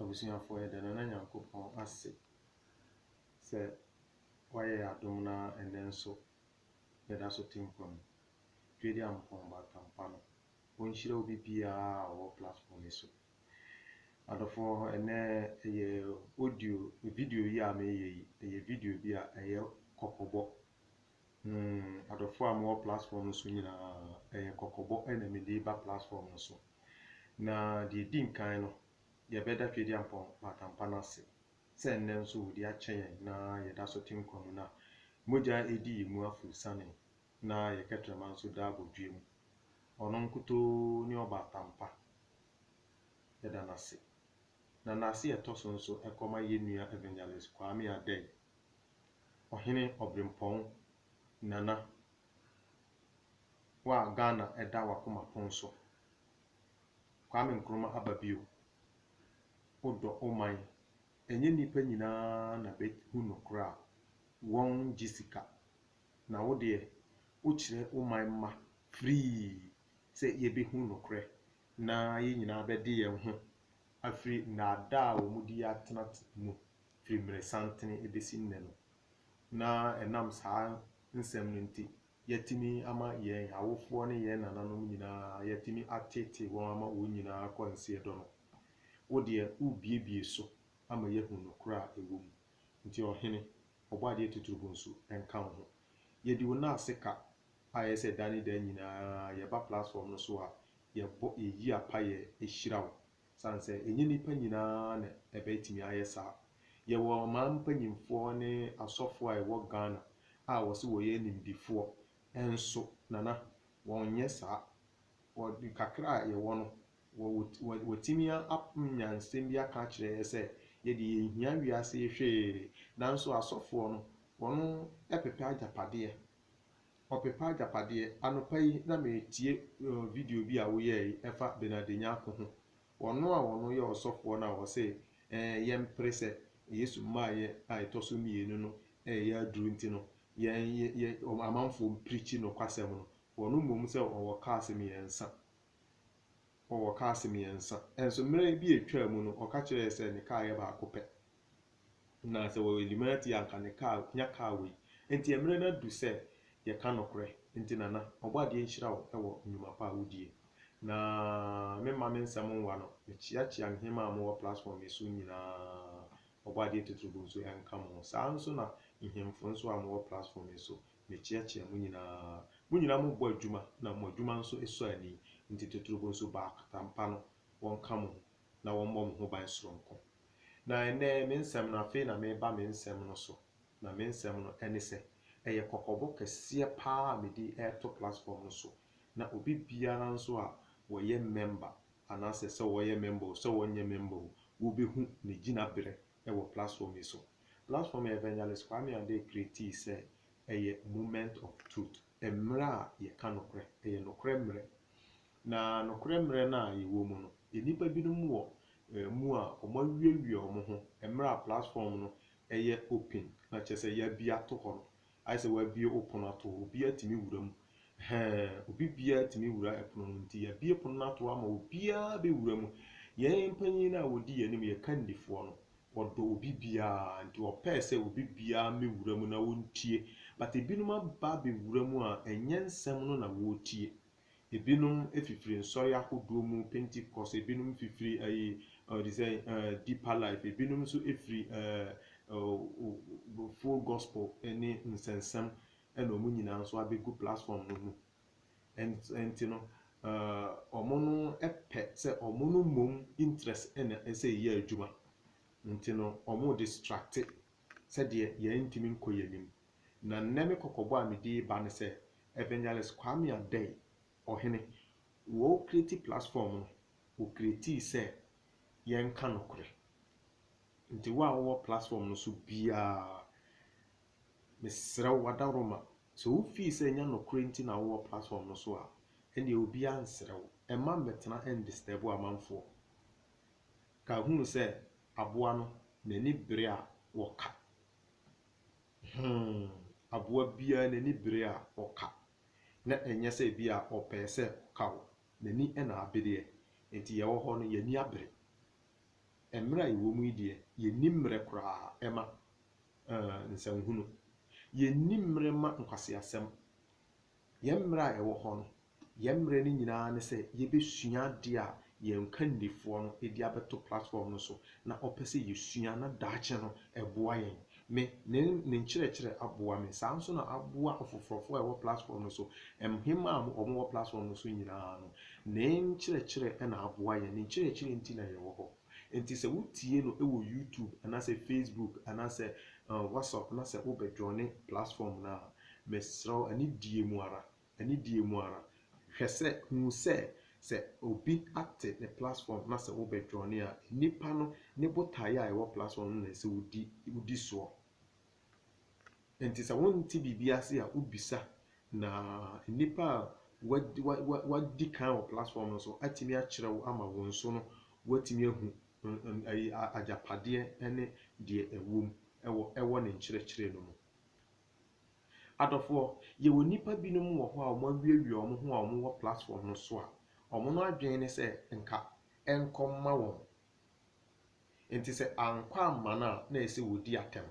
Abusuafoɔ yɛda Nana Nyankopɔn ase sɛ wayɛ yɛn adom na ɛnnɛ nso yɛda so te nkwa mu. Dwedi Ampong Batampa no ɔnhyira obi biara a ɔwɔ platform yi so. Adɔfoɔ ɛnnɛ ɛyɛ audio video yi a meyɛ yi ɛyɛ video bi a ɛyɛ kɔkɔbɔ Hmm adɔfoɔ a mo wɔ platform no so nyinaa ɛyɛ kɔkɔbɔ na me de reba platform no so. Na deɛ ɛdi nkan no yɛ bɛda Tweedi Ampɔn Maatampa no ase sɛ nnɛ nso ɔdi akyɛ yɛn na yɛ da so te nkwa mu na mogya ɛredi yɛn mu afuru sane na yɛ kɛtrɛma nso da abodweɛ mu. Ɔno nkutoo ne Ɔbaatampa yɛda no ase. Na nase a ɛtɔ so nso ɛkɔma yɛn nua Evangelist Kwame Adei Ɔhene Ɔbrempɔn Nana, wo a Ghana da w'akoma pon so, Kwame Nkrumah aba bio, wodɔ wo man, ɛnyɛ nnipa nyinaa na bɛhu nokorɛ a, wɔgye sika, na wo deɛ wokyerɛ wo man mma firii sɛ yɛbɛhu nokorɛ na yɛn nyinaa bɛde yɛn ho afiri nnaadaa a wɔn di yi atena mu. firi mmerɛsantene bɛsi nnɛ no, na ɛnam saa nsɛm no nti, yɛatumi ama yɛn awofoɔ ne yɛn nananom nyina ara, yɛatumi ateetee wɔn ama wɔn nyina ara kɔ nseɛ dɔ no. Wo deɛ, worebuebue so ama yɛahunu nokorɛ a ɛwɔ mu. Nti Ɔhene, Ɔbɔadeɛ Tuturubo nso, ɛnka wo ho. Yɛdi Wo nan ase ka a ɛyɛ sɛ da ne da nyina ara yɛba platform no so a, yɛbɔ, yɛyi apaeɛ hyira Wo. Esiane sɛ ɛnyɛ nnipa nyinaa na ɛbɛtumi ayɛ saa. Yɛwɔ ɔman mpanimfoɔ ne asɔfoɔ a ɛwɔ Ghana a wɔse wɔyɛ animdefoɔ nso, Nana, wɔnyɛ saa. Wɔde kakra a yɛwɔ no, wɔatumi anya nsɛm bi aka akyerɛ yɛn sɛ yɛdeɛ yɛnhia wiase yi hwee. Nanso asɔfoɔ no, wɔpepɛ agyapadeɛ. Ɔpepa agyapadeɛ. Anɔpa yi na meretie video bi a woyɛɛ yi ɛfa Bernard Nyarko ho. Ɔno a ɔno yɛ ɔsɔfoɔ no a ɔse ɛɛ yɛmpere sɛ Yesu mmaeɛ a ɛtɔ so mmienu no ɛyɛ aduro nti no yɛn yɛ amanfoɔ mpirikyi nokwasɛm no. Ɔno mmom sɛ ɔwɔ cars mmiɛnsa. Ɔwɔ cars mmiɛnsa. Nso mmerɛ bi a ɛtwaa mu no ɔka kyerɛɛ yɛ sɛ ne car yɛ baako pɛ. Na sɛ wɔyɛ Illuminati a anka ne car nya car wei. Nti ɛmerɛ no adu sɛ yɛka nokorɛ. Nti Nana, Ɔbɔadeɛ nhyira wo wɔ nnwuma pa a wodie. Na memma me nsɛm nwa no, mekyeakyea nheema a mowɔ platform yi so nyinaa. Ɔbɔadeɛ Titiribo nso ɛnka mo ho. Saa ara nso na nhemfo nso a mowɔ platform yi so, mekyeakyea mo nyinaa. Mo nyinaa mobɔ adwuma na mo adwuma nso sɔ ani. Nti Titiribo nso baakota mpa no wɔnka mo ho. na wɔmmɔ me ho ban soronko. Na ɛnnɛ, me nsɛm no, afei na mereba me nsɛm no so, na me nsɛm no ne sɛ, ɛyɛ kɔkɔbɔ kɛseɛ pa ara a mede reto platform no so, na obi biara nso a ɔyɛ mɛmba, anaasɛ sɛ ɔyɛ mɛmba o, sɛ ɔnyɛ mɛmba o, wobɛhu ne gyinaberɛ wɔ platform yi so. Platform a Evangelist Kwame Adeh createe sɛ ɛyɛ Moment of Truth, mmerɛ a yɛka nokorɛ, ɛyɛ nokorɛ mmerɛ. Na nokorɛ mmerɛ no a yɛwɔ mu no, yɛn nnipa binom wɔ yɛn mu a wɔawiawia wɔn ho mmerɛ a platform no yɛ open, na kyerɛ sɛ yɛabue ato hɔ no, ayɛ sɛ wɔabue wo pono ato hɔ, obiara tumi wura mu, hɛɛ, obi biara tumi wura pono no, nti yɛabue pono no ato hɔ ama obiara bɛwura mu. Yɛn mpanin no a wɔdi yɛn anim, yɛn kandifoɔ no, ɔdɔ obi biara, nti ɔpɛɛ sɛ obi biara mmɛwura mu na wɔntie, but binom aba abɛwura mu a ɛnyɛ nsɛm no na wɔretie. Ebinom fifiri nsɔre ahodoɔ mu, Pentecost, ebinom fifiri ɛyi ɔɔ te sɛ ɛɛ Deeper Life, ebinom nso firi ɛɛ ɛɛ Full Gospel ɛne Nsɛnsɛm ɛna wɔn nyinaa nso abɛgu platform no mu. Ɛnt ɛnti no ɛɛ wɔn no pɛ sɛ wɔn no mmom interest ɛna ɛsɛ yɛ adwuma. Nti no wɔn redistracte sɛdeɛ yɛn ntumi nkɔ yɛn anim. Na nnɛ me kɔkɔbɔ a mede reba ne sɛ Evangelist Kwame Adei, Ɔhene, wɔ wo creative platform no wo creatii sɛ yɛnka nokorɛ. Nti wo a wowɔ platform no so biara mesrɛ wo adaworoma sɛ wo fii sɛ ɛnyɛ nokorɛ nti na wowɔ platform no so a ɛnneɛ obiara nsrɛ wo mma mmɛtena ndisturb wo amanfoɔ. Ka hunu sɛ aboa no n'ani bere a wɔka. Huu aboa biara n'ani bere a ɔka, na ɛnyɛ sɛ ebia ɔpɛe sɛ ɔka wo, n'ani na abereɛ, enti yɛwɔ hɔ no yɛn ani abere. Mmerɛ a yɛwɔ mu yi deɛ, yɛnni mmerɛ koraa mma nsɛnhunu. Yɛnni mmerɛ mma nkwaseasɛm. Yɛn mmerɛ a ɛwɔ hɔ no, yɛn mmerɛ no nyinaa ne sɛ yɛbɛsua adeɛ a yɛn kandifoɔ no de abɛto platform no so na ɔpɛ sɛ yɛsua na daakye no ɛboa yɛn. Me, ne ne nkyerɛkyerɛ aboa me, saa nso na aboa afoforɔfoɔ a ɛwɔ platform no so. Mhemaa a wɔwɔ platform no so nyinaa no, ne nkyerɛkyerɛ na aboa yɛn, ne nkyerɛkyerɛ nti na yɛwɔ hɔ. Enti sɛ wotie no wɔ YouTube anaasɛ Facebook anaasɛ WhatsApp na sɛ wobɛ joine platform no a, mesrɛ wo anidie mu ara, anidie mu ara, hwɛ sɛ, hu sɛ, sɛ obi ate ne platform na sɛ wobɛ joine a, nnipa no ne botaeɛ a ɛwɔ platform no na ɛsɛ wodi, wodi soɔ. Enti sɛ wonte biribi ase a, wobisa, na nnipa a wɔadi kan wɔ platform no so atumi akyerɛ wo ama wo nso no, woatumi ahu agyapadeɛ ne deɛ ɛwɔ mu wɔ ne nkyerɛkyerɛ no mu. Adɔfoɔ, yɛwɔ nnipa binom wɔ hɔ a wɔawiawia wɔn ho a wɔwɔ platform no so a, wɔn adwene ne sɛ nka ɛnkɔmma wɔn. Enti sɛ ankɔ amma no a, na ɛsɛ sɛ wɔdi atɛm.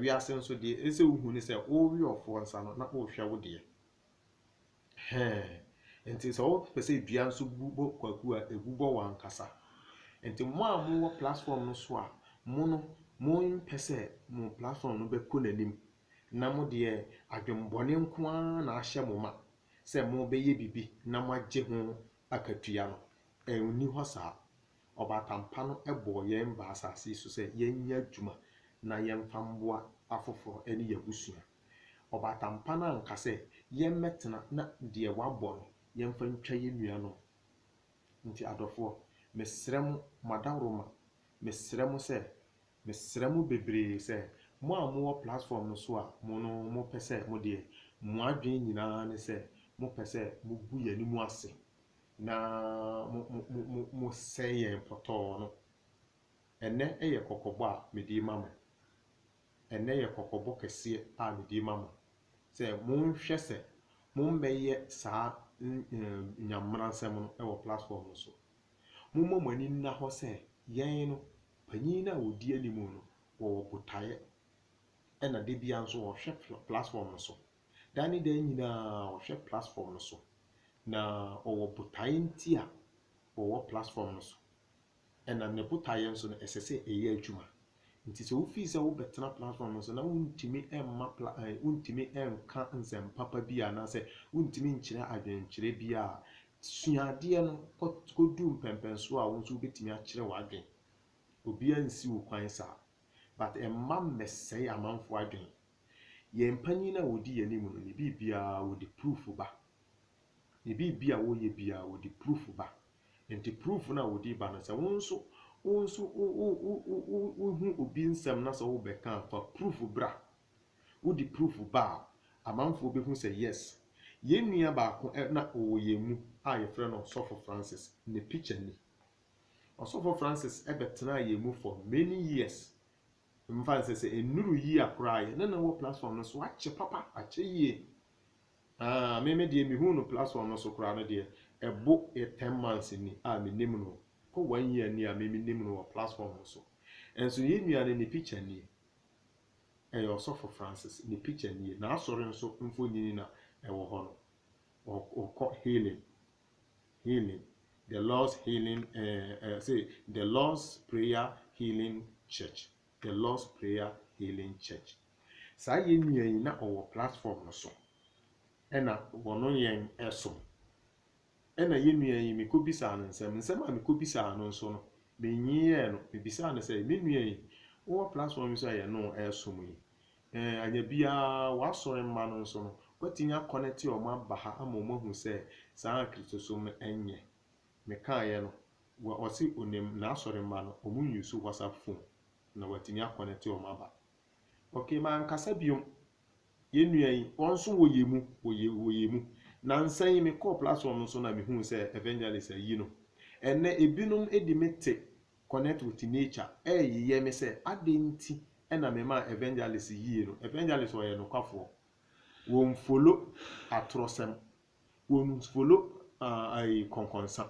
Wiase nso, deɛ ɛsɛ sɛ wohu ne sɛ worewe ɔfoɔ nsa no, na worehwɛ wo deɛ. Ɛhɛɛ. Enti sɛ wopɛ sɛ dua nso bu bɔ kwaku a, ɛbu bɔ wo ankasa. Enti mo a mowɔ platform no so a, mo no, mompɛ sɛ mo platform no bɛkɔ n'anim, na mo deɛ adwemmɔne nko ara na ahyɛ mo ma sɛ mobɛyɛ biribi na moagye ho akatua no, ɛnni hɔ saa. Ɔbaatan pa no bɔɔ yɛn baa asase yi so sɛ yɛnyɛ adwuma na yɛmfa mmoa afoforo ne yɛn abusua. Ɔbaatan pa no anka sɛ yɛmmɛtena na deɛ wabɔ no yɛmfa ntwa yɛn nuanom. Nti adɔfoɔ, mesrɛ mo, mo adaworoma, mesrɛ mo sɛ, mesrɛ mo bebree sɛ, mo a mowɔ platform no so a mo no mopɛ sɛ mo deɛ mo adwene nyinaa ne sɛ mopɛ sɛ mogu yɛn anim ase Na mo, mo, mo, mo, mosɛe yɛn pɔtɔɔ no. Ɛnnɛ yɛ kɔkɔbɔ a mede rema mo. Ɛnnɛ yɛ kɔkɔbɔ kɛseɛ a mede rema mo, sɛ monhwɛ sɛ mommɛyɛ saa nyammeransɛm no wɔ platform no so. Momma mo ani nna hɔ sɛ yɛn no, panin no a ɔdi anim no, wɔwɔ botaeɛ, ɛna da biara nso ɔhwɛ platform no so. Daa ne daa nyinaa ɔhwɛ plasfɔm no so, na ɔwɔ botaeɛ nti a ɔwɔ plasfɔm no so, ɛna ne botaeɛ nso no ɛsɛ sɛ ɛyɛ adwuma. Nti sɛ wo fii sɛ wo bɛtena plasfɔm no so na wo ntumi mma pla ɛɛ wo ntumi nka nsɛm papa bi anaa sɛ wo ntumi nkyerɛ adwenkyerɛ bi a, sua adeɛ no kɔ kɔduru mpɛnpɛnsoɔ a wo nso wo bɛtumi akyerɛ w'adwen. Obiara nsi wo kwan saa. But mma mmɛsɛe amanfoɔ adwen. Yɛn mpanyin a wɔdi yɛn anim no, ne biribiara wɔde proof ba. Ne biribi a wɔyɛ biara wɔde proof ba. Nti proof no a wɔde ba no, sɛ wo nso wo nso wo wo wo wo wo wohu obi nsɛm na sɛ wobɛka a, fa proof bra. Wode proof ba a, amanfoɔ bɛhu sɛ yes, yɛn nua baako na ɔwɔ yɛn mu a yɛfrɛ no Ɔsɔfo Francis, ne picture ni. Ɔsɔfo Francis bɛtenaa yɛn mu for many years Mfa nsɛ sɛ ɛnnuru yia koraa yɛ ne no wɔ platform no so akyɛ papa akyɛ yie aah me me deɛ mehuu no platform no so koraa no deɛ ɛbo yɛ ten months ni a menim no kɔ one year ni a me menim no wɔ platform no so nso yɛn nua no ne picture nie ɛyɛ ɔsɔfo Francis ne picture nie n'asɔre nso mfonyini na ɛwɔ hɔ no ɔkɔ healing Healing, The Lord's Healing, eh, eh, say, The Lord's Prayer Healing Church, The Lord's Prayer Healing Church. Saa yɛn nua yi na ɔwɔ platform no so, ɛna wɔno yɛn ɛsom. Ɛna yɛn nua yi mekɔ bisaa no nsɛm, nsɛm a mekɔ bisaa no nso no, menyiyɛɛ no, mebisaa no sɛ, me nua yi, wowɔ platform yi so a yɛno ɛsom yi, Ɛɛ, anyɛ biara, w'asɔre mma no nso no, woatumi akɔnɛte wɔn aba ha ama wɔahu sɛ saa ara Kristosom no nyɛ. Mekaeɛ no, wɔ ɔse onim n'asɔre mma no, wɔn use WhatsApp phone na watumi akɔnɛte wɔn aba. Okay, mankasa biom. Yɛn nua yi, wɔn nso wɔyɛ mu, wɔyɛ, wɔyɛ mu. Nansa yi mekɔɔ platform no so na mehuu sɛ Evangelist ayi no. Ɛnnɛ, ebinom de me te Connect with Nature reyeyɛ ne sɛ adɛn nti na memaa Evangelist yie no, Evangelist ɔyɛ nokwafoɔ, wɔnfolo atorɔsɛm, wɔnfolo kɔnkɔnsa,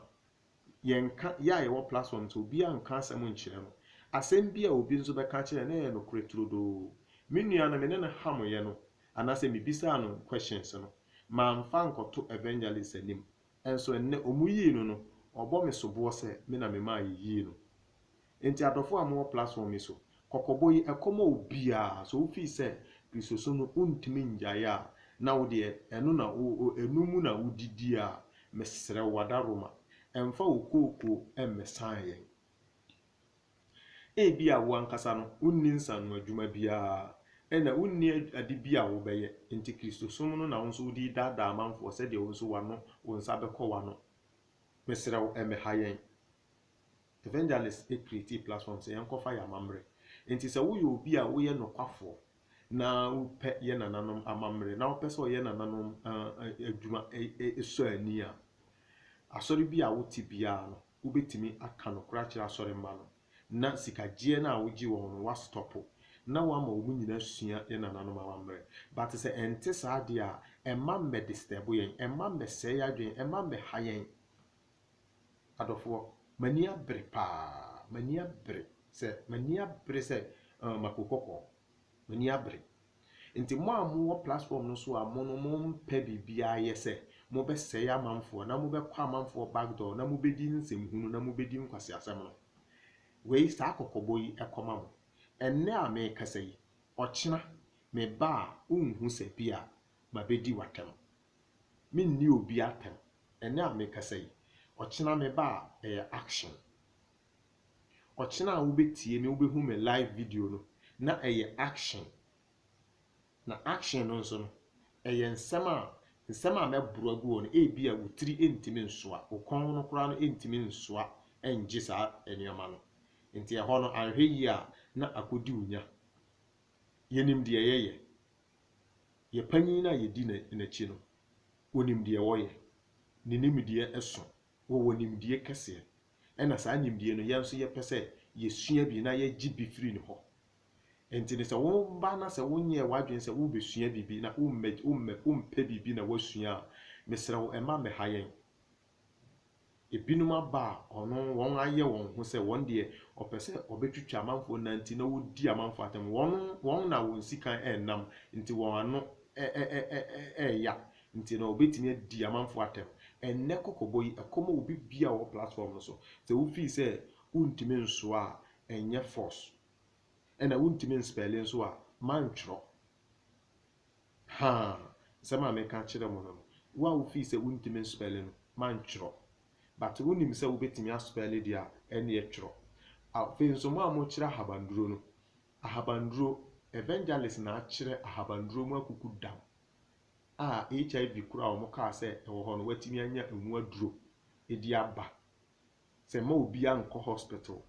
yɛnka, yɛ a yɛwɔ platform no so obiara nka asɛm nkyerɛ no, asɛm bi a obi nso bɛka akyerɛ no na ɛyɛ nokorɛ turodoo. Me nua no me ne no hameeɛ no anaasɛ mebisaa no questions no, mamfa ankɔto Evangelist anim, Nso ɛnnɛ, wɔyii no no, wɔbɔ me soboɔ sɛ me na memaa yɛyii no. Enti adɔfoɔ a mowɔ platform yi so, kɔkɔbɔ yi, ɛkɔma obiara, sɛ wofii sɛ Kristosom no wontumi nnyae a, na wo deɛ ɛno na ɛno mu na wodidie a, mesrɛ wo, w'adaworoma, mfa wo kookoo mmɛsane yɛn. Ebia wo ankasa no, wunni nsaano adwuma biara, ɛnna wunni ade bi a wobɛyɛ, enti Kristosom no na wo nso wode redaadaa amanfoɔ sɛdeɛ wo nso w'ano, wo nsa bɛkɔ w'ano. Mesrɛ wo, ɛmmɛha yɛn. Evangelists createe platform sɛ yɛnkɔfa yɛn amammerɛ. Enti sɛ woyɛ obi a woyɛ nokwafoɔ na wopɛ yɛn nananom amammerɛ na wopɛ sɛ ɔyɛ nananom adwuma sɔ ani a, asɔre bi a wote biara no, wobɛtumi aka nokorɛ akyerɛ asɔre mma no, na sikagyeɛ no a wogye wɔn no woastɔpo, na woama wɔn nyina asua yɛn nananom amammerɛ. But sɛ ɛnte saa deɛ a, ɛmma mmɛ disturb yɛn, ɛmma mmɛ sɛe yɛn adwene, ɛmma mmɛ ha yɛn. Adɔfoɔ, m'ani abere paa, m'ani abere sɛ, m'ani abere sɛ, uh, mako kɔkɔɔ. Mo ani abere. Nti mo a mo wɔ platform no so a mo no mo mpɛ biribiara yɛ sɛ mo bɛ sɛe amanfoɔ na mo bɛ kɔ amanfoɔ back door na mo bɛ di nsɛm hunu na mo bɛ di nkwasiasɛm no. Wei saa kɔkɔbɔ yi ɛkɔ ma mo. Ɛnnɛ a me kasa yi, ɔkyena me ba a wo nhu sɛ bi a ma bɛ di w'atɛm. Me nni obi atɛm. Ɛnnɛ a me kasa yi, ɔkyena me ba a ɛyɛ action. Ɔkyena a wobɛtie me wobɛhu me live video no na ɛyɛ action na action no nso no ɛyɛ nsɛm a nsɛm a mɛboro agu hɔ no ebi a wo tiri ntumi nsoa wo kɔn no koraa no ntumi nsoa ngye saa nneɛma no nti ɛhɔ no anhwɛ yie a na akɔdi wo nya yɛnim deɛ yɛyɛ yɛ panyin no a yɛdi n'akyi no ɔnim deɛ wɔyɛ ne nimdeɛ ɛso wɔwɔ nimdeɛ kɛseɛ Ɛna saa nimdie no yɛn nso yɛpɛ sɛ yɛsua bi na yɛgye bi firi ne hɔ. Enti no sɛ woba na sɛ wonyɛɛ w'adwene sɛ worebɛsua biribi na wommɛ wommɛ wompɛ biribi na woasua a, mesrɛ wo mma mmɛha yɛn. Ebinom aba a ɔno wɔn ayɛ wɔn ho sɛ wɔn deɛ ɔpɛ sɛ ɔbɛtwitwa amanfoɔ nan nti na wɔdi amanfoɔ atɛm. Wɔn wɔn na wɔn sikan ɛrenam nti wɔn ano ɛ ɛ ɛ ɛ ɛreya Nti no wobɛtumi adi amanfoɔ atɛm. Ɛnnɛ kɔkɔbɔ yi, ɛkɔma obi biaa ɔwɔ platform no so. Sɛ wo feel sɛ wontumi nsoa a, ɛnyɛ force. Ɛna wontumi nspɛle nso a, mma ntwerɔ. Haa! Nsɛm a meka akyerɛ mo no no, wo a wo feel sɛ wontumi nspɛle no, mma ntwerɔ. But wonim sɛ wobɛtumi aspɛle deɛ a, ɛnneɛ twerɔ. Afei nso mo a mokyerɛ ahabanduro no, ahabanduro, evangelist na akyerɛ ahabanduro mu akukudam. a HIV kuro a wɔn kaa sɛ ɛwɔ hɔ no watumi anya ɛho aduro ɛdi aba. Sɛ mma obia nkɔ hospital,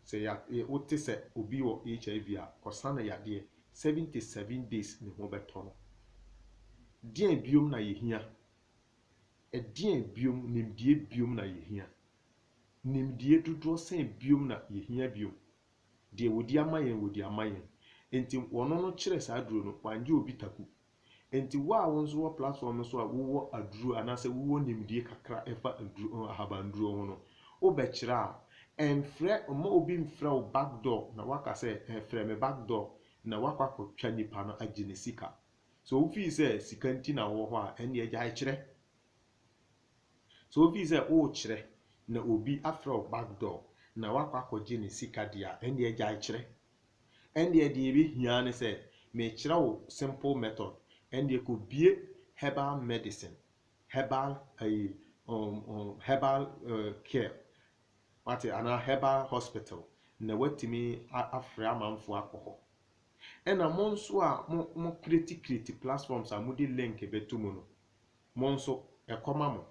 sɛ ya wote sɛ obi wɔ HIV a ɔsa no yadeɛ, 77 days ne ho bɛtɔ no. Deɛn biom na yɛhia? Ɛdeɛn biom, nimdeɛ biom na yɛhia? Nimdeɛ dodoɔ sɛn biom na yɛhia biom? Deɛ wɔdi ama yɛn wɔdi ama yɛn, nti wɔno no kyerɛ saa aduro no wangye obi taku Enti wo a wo nso wɔ platform no so a wowɔ aduro anaasɛ wowɔ nimdie kakra ɛfa aduro ahabanduro ho no, wobɛkyerɛ a, ɛmfrɛ, mma obi mfrɛ wo back door na woaka sɛ ɛɛ frɛ me back door na woakɔ akɔtwa nnipa no agye ne sika. Sɛ wo feel sɛ sika nti na wowɔ hɔ a, ɛnneɛ gyae kyerɛ. Sɛ wo feel sɛ worekyerɛ na obi afrɛ wo back door na woakɔ akɔgye ne sika deɛ a, ɛnneɛ gyae kyerɛ. Ɛndeɛ deɛ ɛbɛhia ara ne sɛ mekyerɛ wo simple method, ɛndeɛ kɔbue herbal medicine, herbal ayi um, um, herbal uh, care, wate anaa herbal hospital na watumi afrɛ amanfoɔ akɔ hɔ. Ɛna mo nso a mo mo kreti kreti platforms a mode link bɛto mu no, mo nso ɛkɔma mo.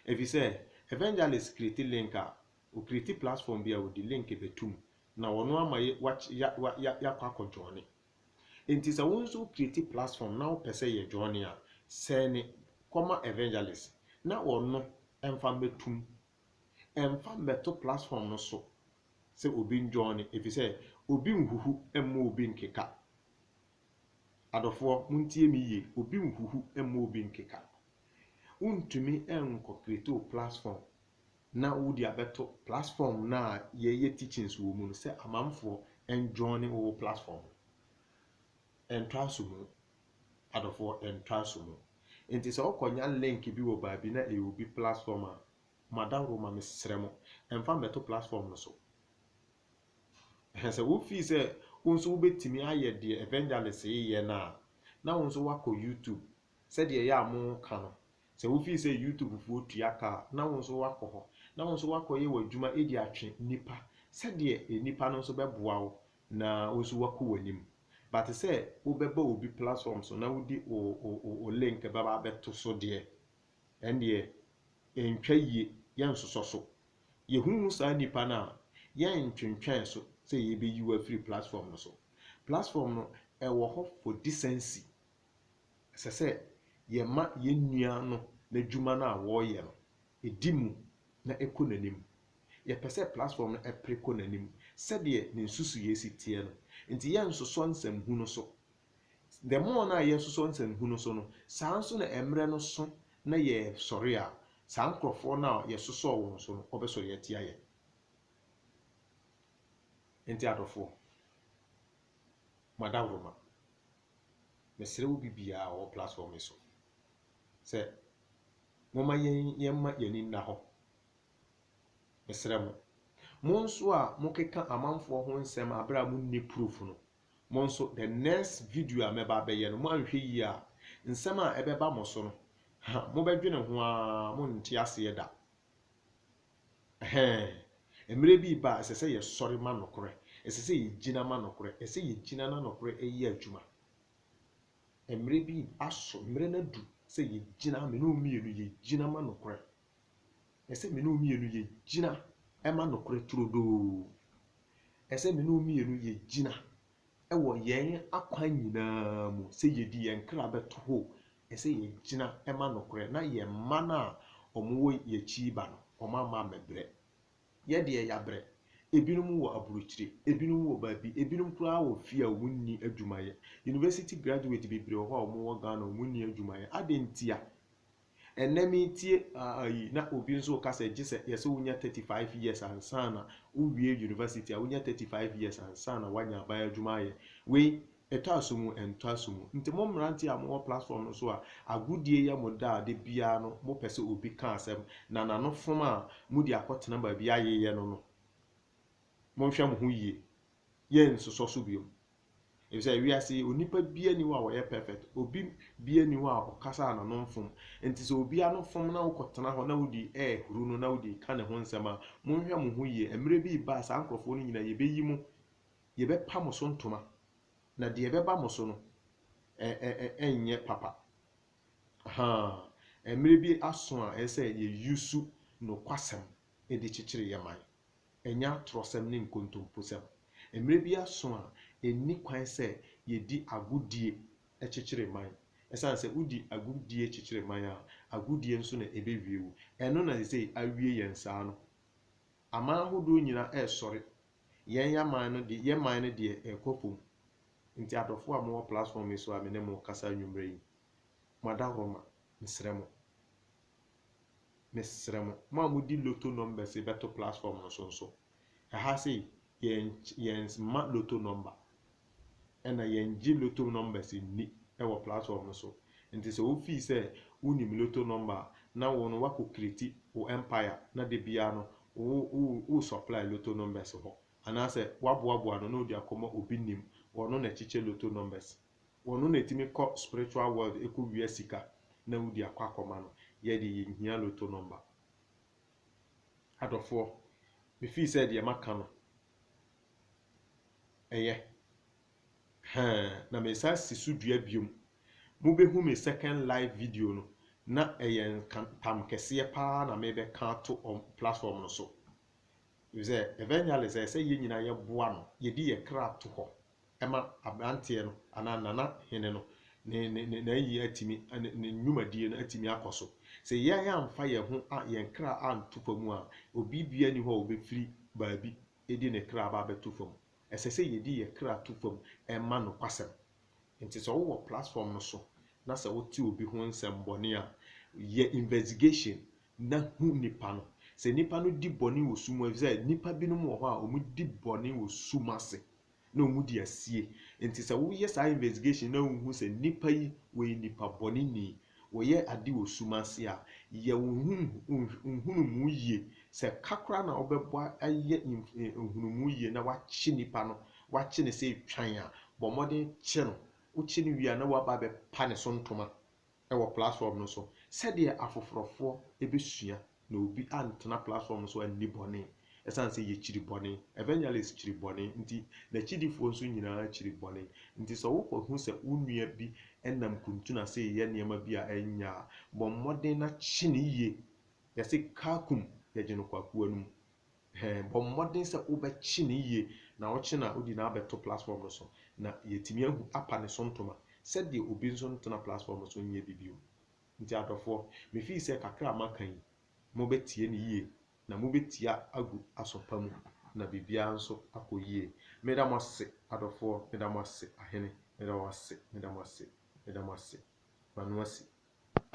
Ɛfiri sɛ evangelist kreti link a Ɔcreate platform bi a ɔde link bɛto mu na ɔno ama yɛakɔ akɔ joine. Nti sɛ wo nso wo create platform na wopɛ sɛ yɛ joine a, sɛne kɔma evangelist na ɔno mfa mmɛto mu. Mfa mmɛto platform no so sɛ obi njoine ɛfiri sɛ obi nhuhu mma obi nkeka. Adɔfoɔ montie me yie, obi nhuhu mma obi nkeka. Wontumi nkɔ create wo platform na wode abɛto platform no a yɛyɛ teachings wɔ mu no sɛ amanfoɔ njoine wo platform no. Ɛntra nso mu, adɔfoɔ, ɛntra nso mu. Nti sɛ wokɔnya link bi wɔ baabi na ɛyɛ obi platform a, m'adaworo ma mesrɛ mo, ɛmfa mmɛto platform no so. Ɛhɛ sɛ wo feel sɛ wo nso wobɛtumi ayɛ deɛ evangelist yi yɛ no a, na wo nso woakɔ YouTube, sɛdeɛ ɛyɛ a moka no, Sɛ wo feel sɛ YouTube foɔ tua ka a, na wo nso woakɔ hɔ, na wo nso woakɔ yɛ w'adwuma de atwe nnipa, sɛdeɛ nnipa no nso bɛboa wo na wo nso woakɔ w'anim. But sɛ wo bɛba obi platform so na wo de wo wo wo wo link bɛba abɛto so deɛ, ɛndeɛ ɛntwa yie, yɛ nsosɔ so. Yɛ hu hu saa nnipa no a, yɛ ntwentwɛn so sɛ yɛbɛyi wo afiri platform no so. Platform no ɛwɔ hɔ for decency, ɛsɛ sɛ yɛma yɛn nua no n'adwuma no a wɔreyɛ no, ɛdi mu na ɛkɔ n'anim. Yɛpɛ sɛ platform no ɛpere kɔ n'anim sɛdeɛ ne nsusuiɛ si teɛ no, nti yɛnsosɔ nsɛmhu no so. The more no a yɛsosɔ nsɛmhu no so no, saa nso na mmerɛ no so na yɛsɔre a, saa nkorɔfoɔ no a yɛsosɔɔ wɔn so no, wɔbɛsɔre atia yɛn. Nti adɔfoɔ, mo adaworoma. Mesrɛ obi biara a ɔwɔ platform yi so sɛ momma yɛn yɛmma yɛn ani nna hɔ. Mesrɛ mo. Mo nso a mokeka amanfoɔ ho nsɛm aberɛ a monni proof no, mo nso the next video a mɛba abɛyɛ no, moanhwɛ yie a, nsɛm a ɛbɛba mo so no, ha, mobɛdwene ho ara, monnte aseɛ da. Ɛhɛɛ. Mmerɛ bi reba a, ɛsɛ sɛ yɛsɔre ma nokorɛ. Ɛsɛ sɛ yɛgyina ma nokorɛ. Ɛsɛ sɛ yɛgyina na nokorɛ yɛ adwuma. Mmerɛ bi aso, mmerɛ no adu sɛ yɛgyina, me ne wo mmienu, yɛgyina ma nokorɛ. Ɛsɛ sɛ me ne wo mmienu yɛgyina ma nokorɛ turodoo. Ɛsɛ sɛ me ne wo mmienu yɛgyina wɔ yɛn akwan nyinaa mu sɛ yɛdi yɛn kra bɛto hɔ o, Ɛsɛ yɛgyina ma nokorɛ na yɛn mma no a wɔwɔ yɛakyi reba no, wɔamma ammɛbrɛ. Yɛ deɛ yɛabrɛ. Ebinom wɔ aburokyire, ebinom wɔ baabi, ebinom koraa wɔ fie a wɔnni adwuma yɛ. University graduate bebree wɔ hɔ a wɔwɔ Ghana a wɔnni adwuma yɛ. Adɛn ntia? Ɛnnɛ meretie ayi na obi nso reka sɛ gye sɛ yɛsɛ wonya 35 years ansa na wowie university a wonya 35 years ansa na woanya aban adwuma ayɛ. Wei Ɛtɔ aso mu, ɛntɔ aso mu. Nti mo mmeranteɛ a mowɔ platform no so a agodie yɛ mo dɛ a da biara no mopɛ sɛ obi ka asɛm na n'ano fom a mode akɔtena baabi ayeyɛ no no, monhwɛ mo ho yie. Yɛnsosɔ so biom. Efisɛ wiase yi, onipa biara nni hɔ a ɔyɛ perfect. Obi biara nni hɔ a ɔkasa a n'ano mfom. Nti sɛ obi ano fom na wokɔtena hɔ na wode rehuru no na wode reka ne ho nsɛm a, monhwɛ mo ho yie. Mmerɛ bi reba a saa nkorɔfoɔ no nyinaa yɛbɛyi mo Yɛbɛpa mo so ntoma, na deɛ ɛbɛba mo so no, ɛrenyɛ papa. Ahaa, mmerɛ bi aso a ɛsɛ sɛ yɛ use nokwasɛm de kyekyere yɛn man. Ɛnyɛ atorɔsɛm ne nkontomposɛm. Mmerɛ bi aso a ɛnni kwan sɛ yɛdi agodie kyekyere man. Ɛsiane sɛ wodi agodie kyekyere man a, agodie nso na ɛbɛwie wo. Ɛno na seesei awie yɛn saa no. Aman ahodoɔ nyinaa resɔre Yɛn yɛn man no de yɛn man no deɛ ɛrekɔ pom nti adɔfoɔ a mowɔ platform yi so a me ne mo rekasa anwummerɛ yi mo adaworoma mesrɛ mo mesrɛ mo mo a modi loto numbers yi bɛto platform no so nso ɛha sei yɛn yɛn mma loto number Ɛna yɛngye lotto numbers nni wɔ platform no so. Nti sɛ wo feel sɛ wo nim lotto number a, na wo no w'akɔ create wo empire na da biara no wo wo supply lotto numbers hɔ. Anaasɛ w'aboaboa no na odi akɔma obi nim, ɔno na ɛkyekyɛ lotto numbers. Ɔno na ɛtumi kɔ spiritual world ɛkɔ wia sika na wodi akɔ akɔma no. Yɛ deɛ yɛnhia lotto number. Adɔfoɔ, me feel sɛ deɛ maka no Ɛyɛ. Hɛn, na mesan si so dua biom. Mubehu me second live video no, na ɛyɛ nka ntam kɛseɛ paa na mebɛka ato ɔm platform no so. Efisɛ evangelist ɛsɛ yɛn nyinaa yɛboa no, yɛde yɛn kra to hɔ ɛma aberanteɛ no anaa nana hene no ne ne n'ayie atumi ne ne nnwumadie no atumi akɔ so. Sɛ yɛn amfa yɛn ho a yɛn kra anto fa mu a, obi biara nni hɔ a ɔbɛfiri baabi de ne kra aba abɛto fa mu. Ɛsɛ sɛ yɛde yɛn kra to fa mu ma nokwasɛm. Nti sɛ wowɔ platform no so na sɛ wote obi ho nsɛmmɔne a, yɛ investigation na hu nipa no. Sɛ nipa no di bɔne wɔ sum mu, ɛfiri sɛ nnipa binom wɔ hɔ a wɔdi bɔne wɔ sum ase. na ɔmo di asie nti sɛ wo yɛ saa investigation na wo hu sɛ nnipa yi wɔ yɛ nnipa bɔne ni wɔ yɛ ade wɔ sum ase a yɛ wo nhunumu yie sɛ ka koraa na wo bɛ bɔ ayɛ nhunumu yie na wa kye nnipa no wa kye no sɛ etwan a bɔ mmɔden kye no wo kye no wie a na wa ba bɛ pa ne so ntoma wɔ platform no so sɛdeɛ afoforɔfoɔ bɛsua na obi antena platform no so anni bɔne ɛsiane sɛ yɛkyiri bɔne, evangelist kyiri bɔne nti, n'akyidifoɔ nso nyinaa kyiri bɔne nti sɛ wokɔhu sɛ wo nua bi nam kuntunu ase reyɛ nneɛma bi a ɛnyɛ a, bɔ mmɔden na kye no yie, yɛse kaa kum yɛgye no kwakoa no mu. Ɛhɛn, bɔ mmɔden sɛ wobɛkye no yie na wokye no a wode no abɛto platform no so na yɛatumi ahu apa ne so ntoma sɛdeɛ obi nso ntena platform no so nyɛ bi bio. Nti adɔfoɔ, me fii sɛ kakra a maka yi mobɛtie no yie na mobɛtia agu asɔ pa mu na biribiara nso akɔ yie. Meda mo ase adɔfoɔ, meda mo ase ahene, meda wo ase, meda mo ase, meda mo ase, Manu Asi.